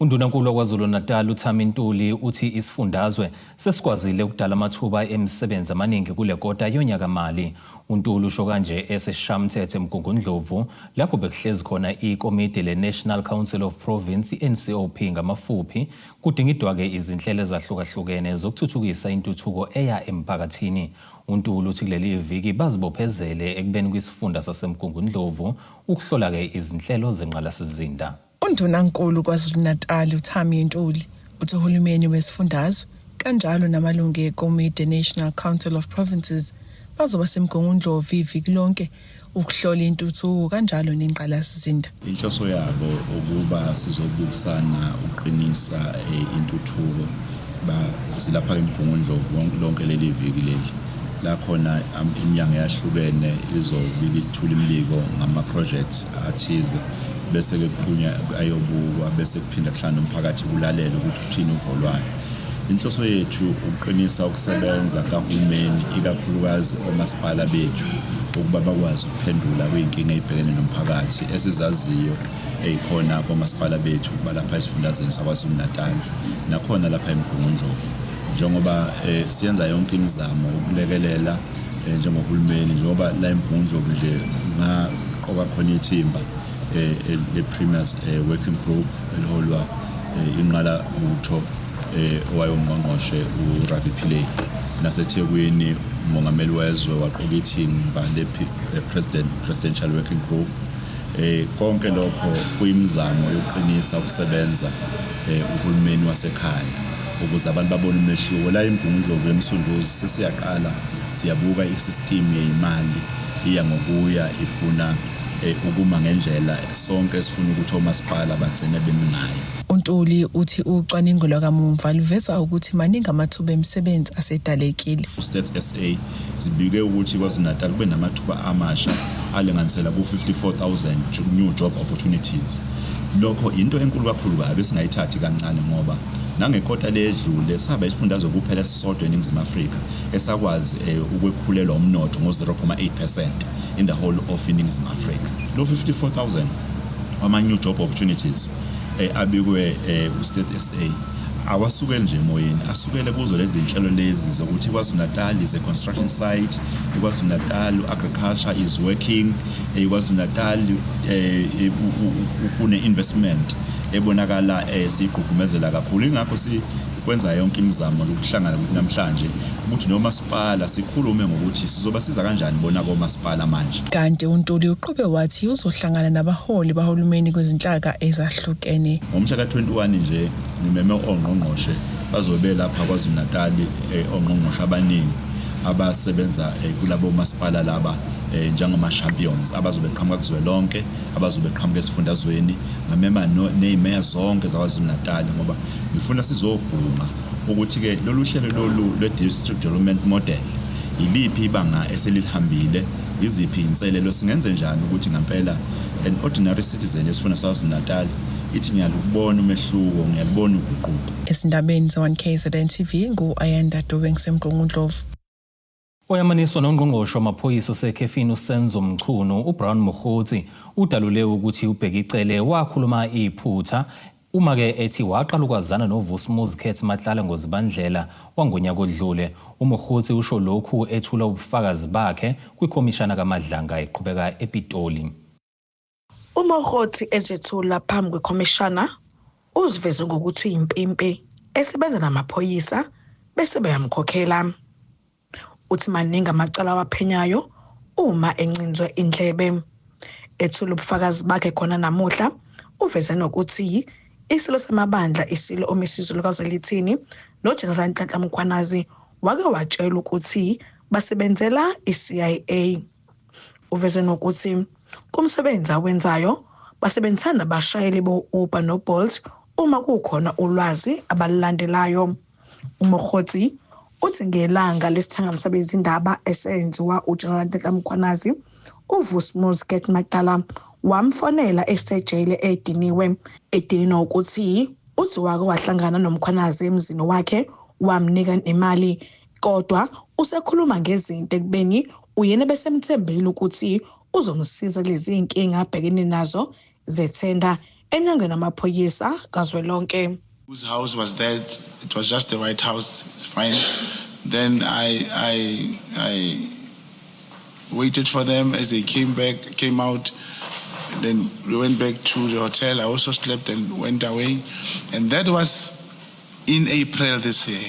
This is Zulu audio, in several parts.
UNdunankulu waKwaZulu-Natal uThami Ntuli uthi isifundazwe sesikwazile ukudala amathuba emisebenzi amaningi kule kota yonyakamali. UNtuli usho kanje esesishamthethe eMgungundlovu lapho bekuhlezi khona ikomidi le-National Council of Province, i-NCOP ngamafuphi, kudingidwa-ke izinhlelo ezahlukahlukene zokuthuthukisa intuthuko eya emphakathini. UNtuli uthi kuleli viki bazibophezele ekubeni kwisifunda saseMgungundlovu ukuhlola-ke izinhlelo zengqalasizinda. UNdunankulu KwaZulu-Natali uThami Ntuli uthi uhulumeni wesifundazwe kanjalo namalungu ekomidi National Council of Provinces bazoba semgungundlovu iviki lonke ukuhlola intuthuko kanjalo nengqalasizinda. Inhloso yabo ukuba sizobukisana ukuqinisa eh, intuthuko ba silapha eMgungundlovu wonke lonke leli viki leli la khona am- iminyango eyahlukene izobika ithula imibiko ngama-projects athize bese ke kuphunya ayobukwa bese kuphinda kuhlangana umphakathi kulalele ukuthi kuthini uvolwayo inhloso yethu ukuqinisa ukusebenza kahulumeni ikakhulukazi omasipala bethu ukuba bakwazi ukuphendula kwiy'nkinga ey'bhekene nomphakathi esizaziyo eyikhona komasipala bethu balapha esifundazweni sakwazulu-natal nakhona lapha emgungundlovu njengoba eh, siyenza yonke imizamo ukulekelela eh, njengohulumeni njengoba la emgungundlovu nje ngaqoka khona ithimba eh, eh, le-premiers eh, working group eliholwa eh, inqala butho eh, owayongqongqoshe uravi philei nasethekwini umongameli wezwe waqoka ithimba le-presidential working group Eh, konke lokho kuyimizamo yokuqinisa ukusebenza eh, uhulumeni wasekhaya ukuze abantu babone umehluko la emgungundlovu emsunduzi sesiyaqala siyabuka i-system yeyimali iya ngokuya ifuna eh, ukuma ngendlela sonke esifuna ukuthi omasipala bagcine bemi ngayo untuli uthi ucwaningo lwakamumva luveza ukuthi maningi amathuba emisebenzi asedalekile ustate sa zibike ukuthi KwaZulu-Natal kube namathuba amasha alinganisela ku-54,000 new job opportunities. Lokho yinto enkulu kakhulu kabi esingayithathi kancane ngoba nangekota ledlule saba isifundazwe kuphela esisodwa eNingizimu Afrika esakwazi eh, ukwekhulelwa umnotho ngo-0.8% in the whole of iNingizimu Afrika. Lo 54,000 ama-new job opportunities eh, abikwe eh, uState SA awasukeli nje emoyeni asukele kuzo lezi nhlelo lezi zokuthi KwaZulu-Natal is a construction site KwaZulu-Natal agriculture is working eh, KwaZulu-Natal eh, eh, kune-investment ebonakala siyigqugqumezela kakhulu ingakho kwenza yonke imizamo lokuhlangana ukuthi namhlanje ukuthi nomasipala sikhulume ngokuthi sizobasiza kanjani bona komasipala manje Kanti uNtuli uqhube wathi uzohlangana nabaholi bahulumeni kwezinhlaka ezahlukene. Ngomhla ka-21 nje ngimeme ongqongqoshe bazobe lapha KwaZulu-Natali eh, ongqongqoshe abaningi abasebenza eh, kulabo masipala laba eh, njengama-champions abazobe qhamuka kuzwelonke abazobe qhamuka esifundazweni ngamema ney'meya zonke zakwazulu-natali ngoba ngifuna sizobhunga ukuthi-ke lolu hlelo lolu lwe-district development model yiliphi ibanga eselilihambile yiziphi inselelo singenze njani ukuthi ngampela an ordinary citizen esifuna sakwazulu-natal ithi ngiyalubona umehluko ngiyalubona uguquko esindabeni ze-1 kzn tv ngu-ayanda dube ngisemgqungundlovu Oyamaniswa nongqongqoshe wamaphoyisa osekhefini uSenzo Mchunu, uBrown Mokgotsi, udalule ukuthi uBhekicele wakhuluma iphutha Uma ke ethi waqala ukwazana noVusmuzi Khethi Matlala ngoZibandlela wangonyaka odlule, uMokgotsi usho lokhu ethula ubufakazi bakhe kwiKhomishana kaMadlanga eqhubeka ePitoli. UMokgothi ezethula phambi kwekhomishana uziveze ngokuthi uyimpimpi esebenza namaphoyisa bese beyamkhokhela. Uthi maningi amacala awaphenyayo uma encinzwe indlebe. Ethula ubufakazi bakhe khona namuhla uveze nokuthi isilo samabandla isilo omisizo lukazelithini nogeneral nhlanhla mkhwanazi wake watshelwa ukuthi basebenzela i-cia Uveze nokuthi kumsebenzi awenzayo basebenzisana nabashayeli bo-Uber no-Bolt uma kukhona ulwazi abalulandelayo. UMokgotsi uthi ngelanga lesithangami sabezindaba esenziwa uGeneral Nhlanhla Mkhwanazi, uVusmus Get Magdala wamfonela esejele ediniwe, edinwa ukuthi uthi wake wahlangana noMkhwanazi emzini wakhe wamnika nemali kodwa usekhuluma ngezinto ekubeni Uyena ebesemthembile ukuthi uzomsiza kulezi zinkinga abhekene nazo zethenda enyangeni amaphoyisa kazwelonke. Whose house was that? It was just the White House. It's fine. Then I, I, I waited for them as they came back, came out. And then we went back to the hotel. I also slept and went away. And that was in April this year.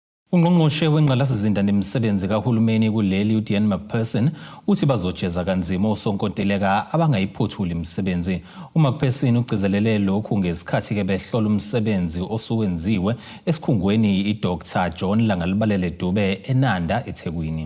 Ungqongqoshe wengqalasizinda nemisebenzi kahulumeni kuleli uDean McPherson uthi bazojeza kanzima osonkontileka abangayiphothuli imisebenzi. UMcPherson ugcizelele lokhu ngesikhathi ke behlola umsebenzi osuwenziwe esikhungweni iDr John Langalibalele Dube eNanda, eThekwini.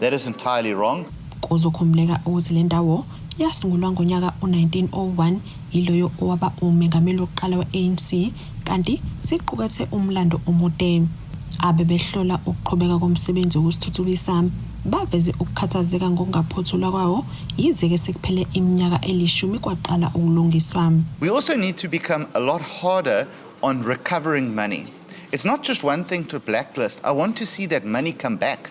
That is entirely wrong. Kuzokhumuleka ukuthi le ndawo yasungulwa ngonyaka u-1901 yiloyo owaba umengameli wokuqala we-anc kanti siqukethe umlando omude abebehlola ukuqhubeka komsebenzi wokusithuthukisa baveze ukukhathazeka ngokungaphothulwa kwawo yize-ke sekuphele iminyaka elishumi kwaqala ukulungiswa we also need to become a lot harder on recovering money it's not just one thing to blacklist i want to see that money come back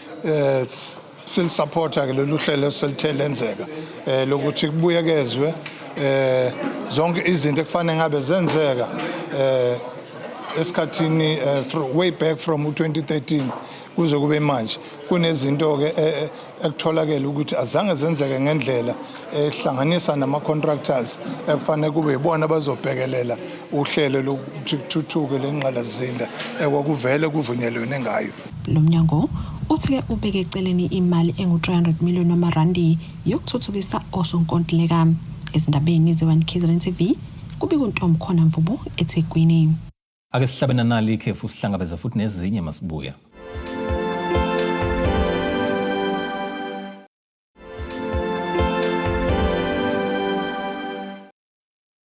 eh silisupporta ke lolu hlelo selithe lenzeka eh lokuthi kubuyekezwe eh zonke izinto ekufanele ngabe zenzeka eh esikhathini eh, way back from 2013 kuze kube manje kunezinto ke eh, eh, ekutholakele ukuthi azange zenzeke ngendlela ehlanganisa nama contractors ekufanele kube ibona bazobhekelela uhlelo lokuthi kuthuthuke lengqalazinda ekwakuvele kuvunyelwene ngayo Lo mnyango uthi ke ubeke eceleni imali engu-300 million wamarandi yokuthuthukisa osonkontileka. Ezindabeni ze-One KZN TV, kubika uNtom Khona Mvubu eThekwini. Ake sihlabe nanali ikhefu sihlangabeze futhi nezinye masibuya.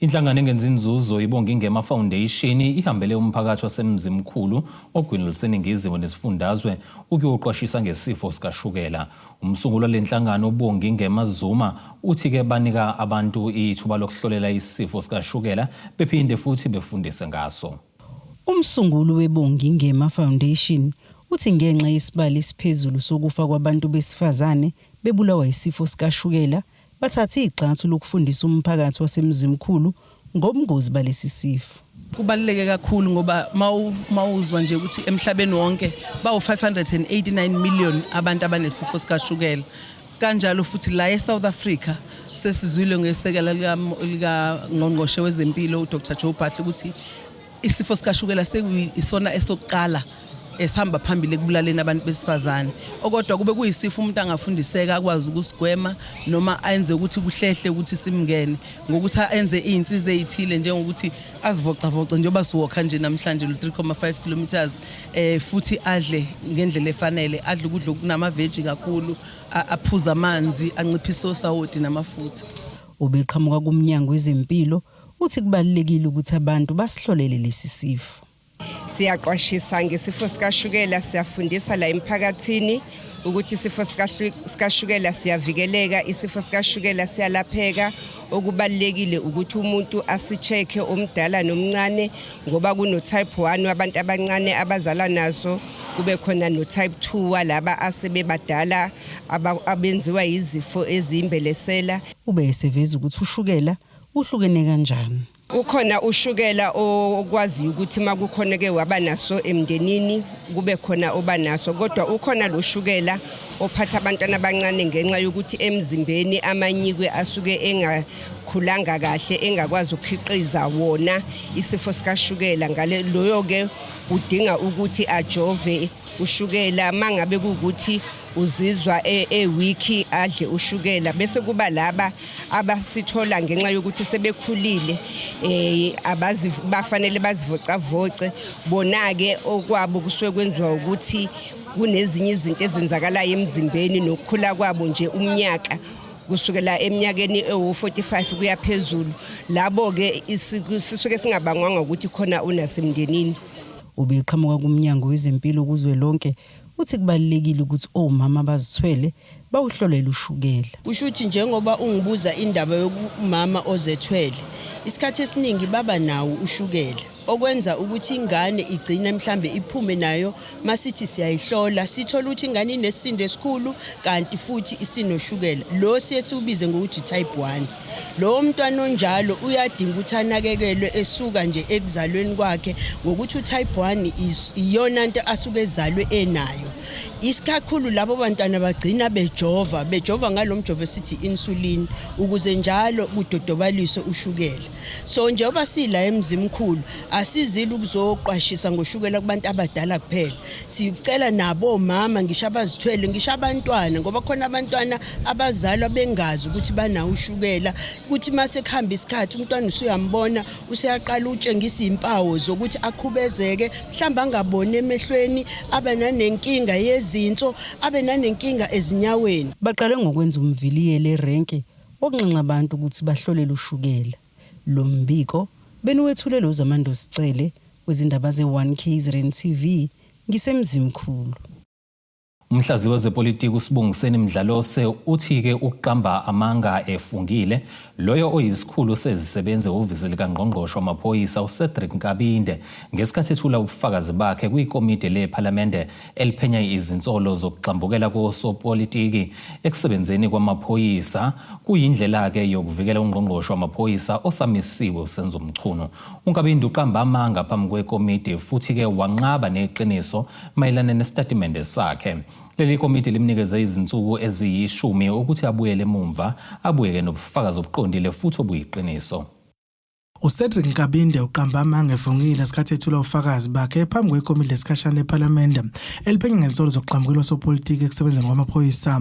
Inhlangano engenza inzuzo ibonga ingema Foundation ihambele umphakathi waseMzimkhulu ogwini oluseningizimu nesifundazwe ukuyoqwashisa ngesifo sikashukela. Umsunguli wale nhlangano ubonga ingema Zuma uthi ke banika abantu ithuba lokuhlolela isifo sikashukela bephinde futhi befundise ngaso. Umsunguli webongi ngema Foundation uthi ngenxa yesibali esiphezulu sokufa kwabantu besifazane bebulawa isifo sikashukela bathathe igxathu lokufundisa umphakathi waseMzimkhulu ngobungozi balesi sifo. Kubaluleke kakhulu ngoba mawuzwa nje ukuthi emhlabeni wonke bawu 589 million abantu abanesifo sikashukela. Kanjalo futhi la eSouth Africa sesizwile ngesekela lika ngqongqoshe wezempilo uDr Joe Phahle ukuthi Isifo sikashukela sekuyisona esokuqala esihamba phambili ekubulaleni abantu besifazane okodwa kube kuyisifo umuntu angafundiseka akwazi ukusigwema noma enze ukuthi kuhlehle ukuthi simngene ngokuthi enze izinsiza ezithile njengokuthi azivocavoce njengoba siwokha nje namhlanje lo 3.5 kilometers eh futhi adle ngendlela efanele adle ukudla okunama veggie kakhulu aphuza amanzi anciphisa osawoti namafutha ubeqhamuka kumnyango wezempilo Uthi kubalulekile ukuthi abantu basihlolele lesi sifo. Siyaqwashisa ngesifo sikashukela, siyafundisa la emphakathini ukuthi isifo sikashukela siyavikeleka, isifo sikashukela siyalapheka. Okubalulekile ukuthi umuntu asicheke omdala nomncane ngoba kuno-type 1 wabantu abancane abazalwa nazo kube khona no-type 2 walaba asebebadala abenziwa yizifo eziyimbelesela. Ube eseveza ukuthi ushukela uhlukene kanjani. Ukhona ushukela okwaziyo ukuthi uma kukhona ke waba naso emndenini kube khona oba naso kodwa ukhona lo shukela ophatha abantwana abancane ngenxa yokuthi emzimbeni amanyikwe asuke engakhulanga kahle engakwazi ukukhiqiza wona isifo sikashukela ngale loyo ke udinga ukuthi ajove ushukela mangabe kukuthi uzizwa ewiki e adle ushukela bese kuba laba abasithola ngenxa yokuthi sebekhulile eh abazi bafanele bazivocavoce bona ke okwabo kusuke kwenziwa ukuthi kunezinye izinto ezenzakalayo emzimbeni nokukhula kwabo nje umnyaka kusukela eminyakeni ewu-45 kuya phezulu labo-ke sisuke singabangwanga ukuthi khona unasemndenini ubeqhamuka kumnyango wezempilo kuzwe lonke uthi kubalulekile ukuthi omama abazithwele bawuhlolele ushukela. Kusho ukuthi njengoba ungibuza indaba yokumama ozethwele, isikhathi esiningi baba nawo ushukela okwenza ukuthi ingane igcine mhlambe iphume nayo masithi siyayihlola sithola ukuthi ingane inesisindo esikhulu kanti futhi isinoshukela lo siye siwubize ngokuthi type 1 lowo mntwana onjalo uyadinga ukuthi anakekelwe esuka nje ekuzalweni kwakhe ngokuthi utype 1 iyona nto asuke ezalwe enayo isikhakhulu labo bantwana bagcina bejova bejova ngalo mjovo esithi insulin ukuze njalo kudodobaliswe ushukela so njengoba sila emzimkhulu asizile ukuzoqwashisa ngoshukela kubantu abadala kuphela sicela nabo mama ngisho abazithwele ngisho abantwana ngoba khona abantwana abazali abengazi ukuthi banawo ushukela ukuthi mase kuhamba isikhathi umntwana usuyambona useyaqala utshengisa impawu zokuthi akhubezeke mhlamba angaboni emehlweni abe nanenkinga yezinso abe nanenkinga ezinyaweni baqale ngokwenza umviliyele erenki okunxenxa abantu ukuthi bahlolele ushukela lo mbiko beniwethulele uzamando sicele wezindaba ze-1 KZN TV ngisemzimkhulu Umhlaziyi wezepolitiki uSibongiseni Mdlalose uthi-ke ukuqamba amanga efungile loyo oyisikhulu sezisebenzi ehhovisi likangqongqoshe wamaphoyisa uCedric Nkabinde ngesikhathi ethula ubufakazi bakhe kwikomidi lephalamende eliphenya izinsolo zokugxambukela kosopolitiki ekusebenzeni kwamaphoyisa kuyindlela-ke yokuvikela ungqongqoshe wamaphoyisa osamisiwe uSenzo Mchunu UNkabinde uqamba amanga phambi kwekomiti futhi-ke wanqaba neqiniso mayelana nesitatimende sakhe. Leli komiti limnikeze izinsuku eziyishumi ukuthi abuyele emumva abuyeke nobufakazi obuqondile futhi obuyiqiniso. UCedric Nkabinde uqamba amanga evungile esikhathi ethula ufakazi bakhe phambi kwekomidi lesikhashana ephalamende eliphenya ngezinsolo zokugqamukela osopolitiki ekusebenzeni kwamaphoyisa.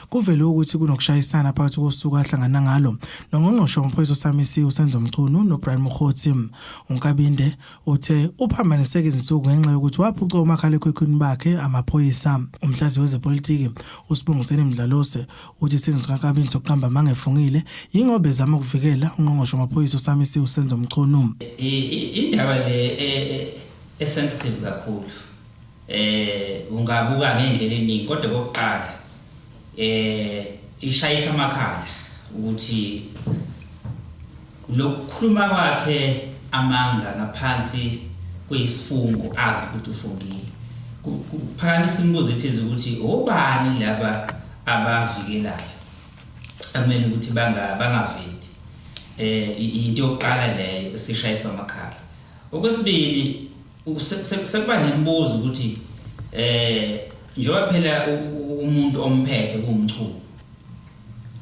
Kuvele ukuthi kunokushayisana phakathi kosuku ahlangana ngalo nongqongqoshe wamaphoyisa osamisiwe uSenzo Mchunu noBrian Mokgotsi. UNkabinde uthe uphambaniseke izinsuku ngenxa yokuthi waphuca omakhalekhukhwini bakhe amaphoyisa. Umhlaziyi wezepolitiki uSibongiseni Mdlalose uthi isenzo sikaNkabinde sokuqamba amanga efungile yingoba ezama ukuvikela ungqongqoshe wamaphoyisa osamisiwe uSenzo Mchunu. Indaba le e, e, e sensitive kakhulu eh ungabuka ngendlela eningi kodwa kokuqala eh ishayisa amakhanda ukuthi lokukhuluma kwakhe amanga ngaphansi kwesifungo azi ukuthi ufungile kuphakamisa imibuzo ethize ukuthi obani laba abavikelayo amele ukuthi banga bangaveli eh into yokuqala leyo sishayisa amakhala okwesibili Sekuba nemibuzo ukuthi eh njengoba phela umuntu omphethe kumchunu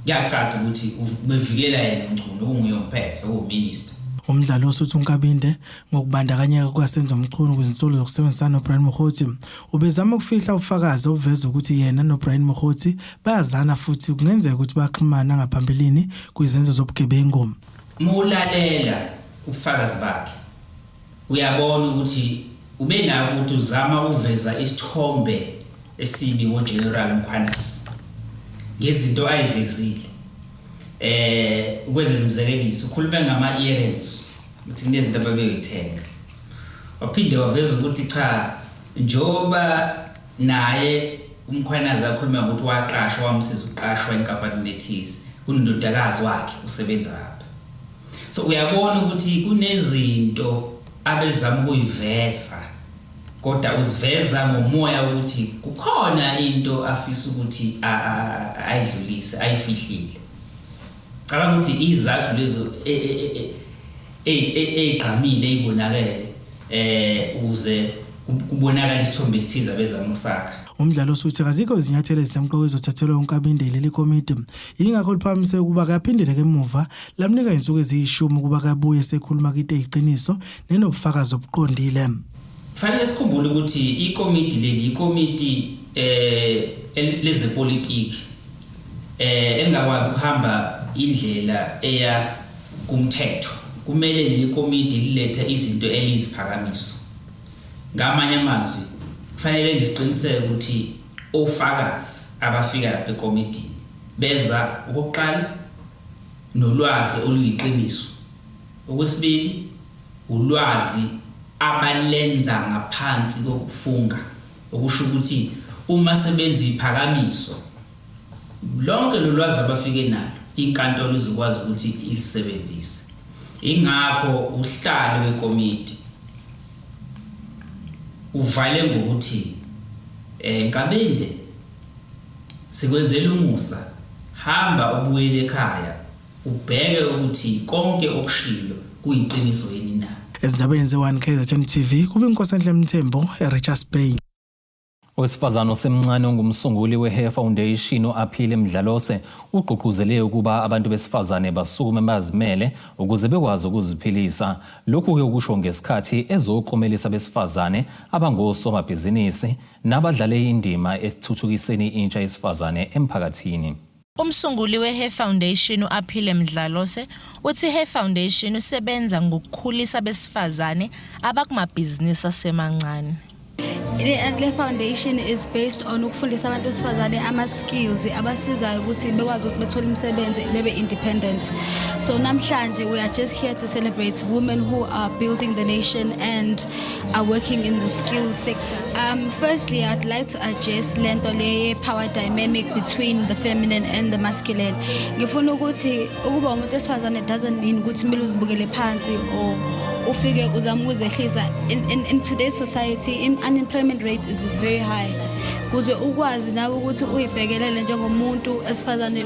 kuyacaca ukuthi ubevikela yena umchunu okunguye omphethe owominister Umdlali osuthu uNkabinde ngokubandakanyeka kukaSenzo Mchunu kwizinsolo zokusebenzisana noBrian Mokgotsi ubezama ukufihla ubufakazi obuveza ukuthi yena noBrian Mokgotsi bayazana futhi kungenzeka ukuthi baxhumana ngaphambilini kwizenzo zobugebengu. Mulalela ubufakazi bakhe Uyabona ukuthi ubenako ukuthi uzama ukuveza isithombe esibi ngoGeneral Mkhwanazi ngezinto ayivezile eh ukwenzela umzekeliso ukhulume ngama earrings ukuthi kunezinto ababeyoyithenga waphinde waveza ukuthi cha njoba naye umkhwanazi akhuluma ukuthi waqashwa wamsiza uqashwa enkampanini ethize kunendodakazi wakhe usebenza lapha so uyabona ukuthi kunezinto abezama ukuyiveza kodwa uziveza ngomoya ukuthi kukhona into afisa ukuthi ayidlulise ayifihlile cabanga ukuthi izathu lezo egqamile e, e, e, ezibonakele eh uze kubonakala isithombe esithize abezama ukusakha umdlalo osuthi kazikho izinyathelo ezisemqoka ezothathelwa unkabindeli lekomiti Yingakho liphakamise ukuba kaphindele kemuva lamnika insuku eziyishumi ukuba kabuye sekhuluma kite iqiniso nenobufakazi obuqondile. Kufanele sikhumbule ukuthi ikomiti leli ikomiti eh lezepolitiki eh elingakwazi ukuhamba indlela eya kumthetho. Kumele leli komiti lilethe izinto eliziphakamiso. Ngamanye amazwi kufanele nje siqiniseke ukuthi OFakazi abafika lapha ekomidini beza, okokuqala, nolwazi oluyiqiniso, okwesibili, ulwazi abalenza ngaphansi kokufunga, okusho ukuthi uma sebenza iphakamiso, lonke lolwazi abafike nalo inkantolo izokwazi ukuthi ilisebenzise. Ingakho uhlalo wekomidi. Uvale ngokuthi eh Nkabinde sikwenzela umusa hamba ubuyele ekhaya ubheke ukuthi konke okushilo kuyiqiniso yini na. Ezindabeni ze-1 KZN TV kube uNkosenhle Mthembu eRichards Bay. Owesifazane osemncane ongumsunguli we-Hair Foundation u-Aphile Mdlalose ugqugquzele ukuba abantu besifazane basukume bazimele ukuze bekwazi ukuziphilisa. Lokhu-ke ukusho ngesikhathi ezoklomelisa abesifazane abangosomabhizinisi nabadlale indima ekuthuthukiseni intsha yesifazane emphakathini. Umsunguli weHer Foundation u-Aphile Mdlalose uthi iHer Foundation usebenza ngokukhulisa abesifazane abakumabhizinisi asemancane. Le foundation is based on ukufundisa abantu besifazane ama-skills abasizayo ukuthi bekwazi ukuthi bethole imisebenzi bebe independent. So namhlanje we are just here to celebrate women who are building the nation and are working in the skill sector. Um, firstly, I'd like to address lento leye power dynamic between the feminine and the masculine. Ngifuna ukuthi ukuba umuntu wesifazane doesn't mean ukuthi kumele uzibukele phansi or ufike uzama ukuzehlisa. In, in, in today's society, in unemployment rate is very high. Kuze ukwazi nawe ukuthi uyibhekelele njengomuntu esifazane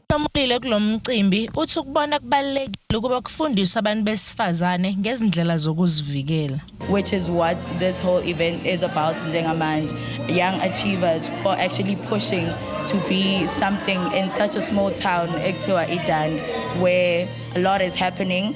Ohlomulile kulo mcimbi uthi ukubona kubalulekile ukuba kufundiswe abantu besifazane ngezindlela zokuzivikela. Which is what this whole event is about njengamanje. Young achievers who are actually pushing to be something in such a small town ekuthiwa iDand where a lot is happening.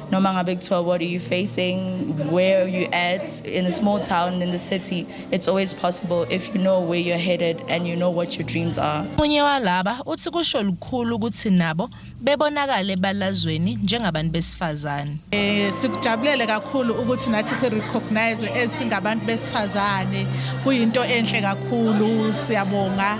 noma ngabe kuthiwa what are you facing where are you at in a small town in the city it's always possible if you know where you're headed and you know what your dreams are omunye walaba uthi kusho lukhulu ukuthi nabo bebonakale balazweni njengabantu besifazane eh sikujabulele kakhulu ukuthi nathi si recognize as singabantu besifazane kuyinto enhle kakhulu siyabonga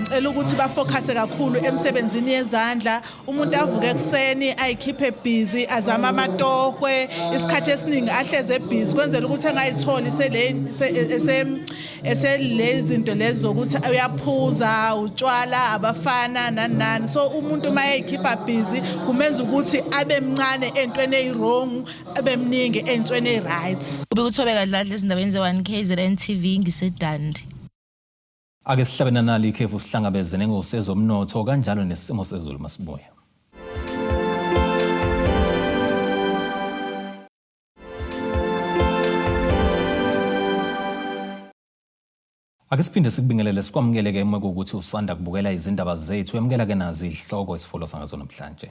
ngicela ukuthi bafokhase kakhulu emsebenzini yezandla umuntu avuke ekuseni ayikhiphe busy azama amatohwe isikhathi esiningi ahleze busy kwenzela ukuthi angayitholi sele eselezinto lezi zokuthi uyaphuza utshwala abafana nani nani so umuntu uma eyikhipha busy kumenza ukuthi abe mncane entweni eyiwrong abe mningi entweni eyi-right ubikuthobeka dladla ezindabeni ze-1 kzn tv ngisedandi Ake sihlabe nanali ikhefu sihlangabeze nengosi ezomnotho kanjalo nesimo sezulu masibuya. Ake siphinde sikubingelele sikwamukele ke uma kuwukuthi usanda kubukela izindaba zethu yamukela ke nazi izihloko esifolwa sangazo namhlanje.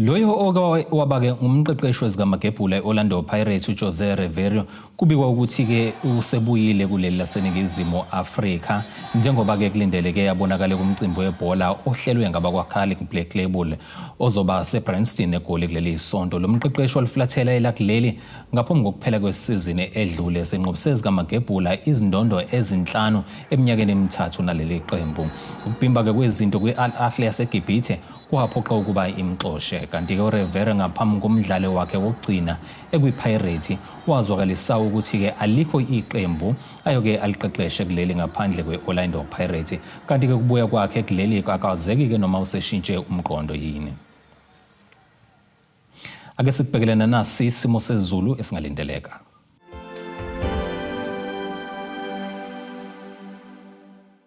Loyo oke wabake ngumqeqeshi wezikamagebhula e-Orlando Pirates uJose Reverio kubikwa ukuthi-ke usebuyile kuleli laseNingizimu Afrika njengoba-ke kulindeleke abonakale kumcimbi webhola ohlelwe ngabakwaCarling Black Label ozoba seBranston eGoli kuleli sonto. Lo mqeqeshi oliflathela elakuleli ngaphambi kokuphela kwesizini edlule senqobise ezikamagebhula izindondo ezinhlanu eminyakeni emithathu naleli qembu. Ukubhimba-ke kwezinto kwi-Al Ahly yaseGibhithe Kwaphoqa ukuba imxoshe kanti ke uRevere ngaphambi komdlalo wakhe wokugcina ekwiPirates wazwakalisa ukuthi ke alikho iqembu ayoke aliqeqeshe kuleli ngaphandle kweOrlando Pirates kanti ke kubuya kwakhe kuleli akazeki ke noma useshintshe umqondo yini Ake sikubhekelena nasi isimo sezulu esingalindeleka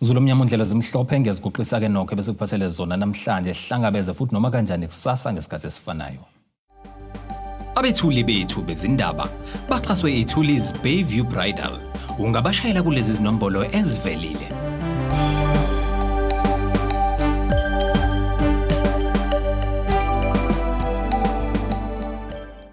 Zulu omnyama undlela zimhlophe ngiyaziguqisa ke nokho bese kuphathele zona namhlanje sihlangabeze futhi noma kanjani kusasa ngesikhathi esifanayo Abethuli bethu bezindaba baxhaswe iThuli's Bayview Bridal ungabashayela kulezi zinombolo ezivelile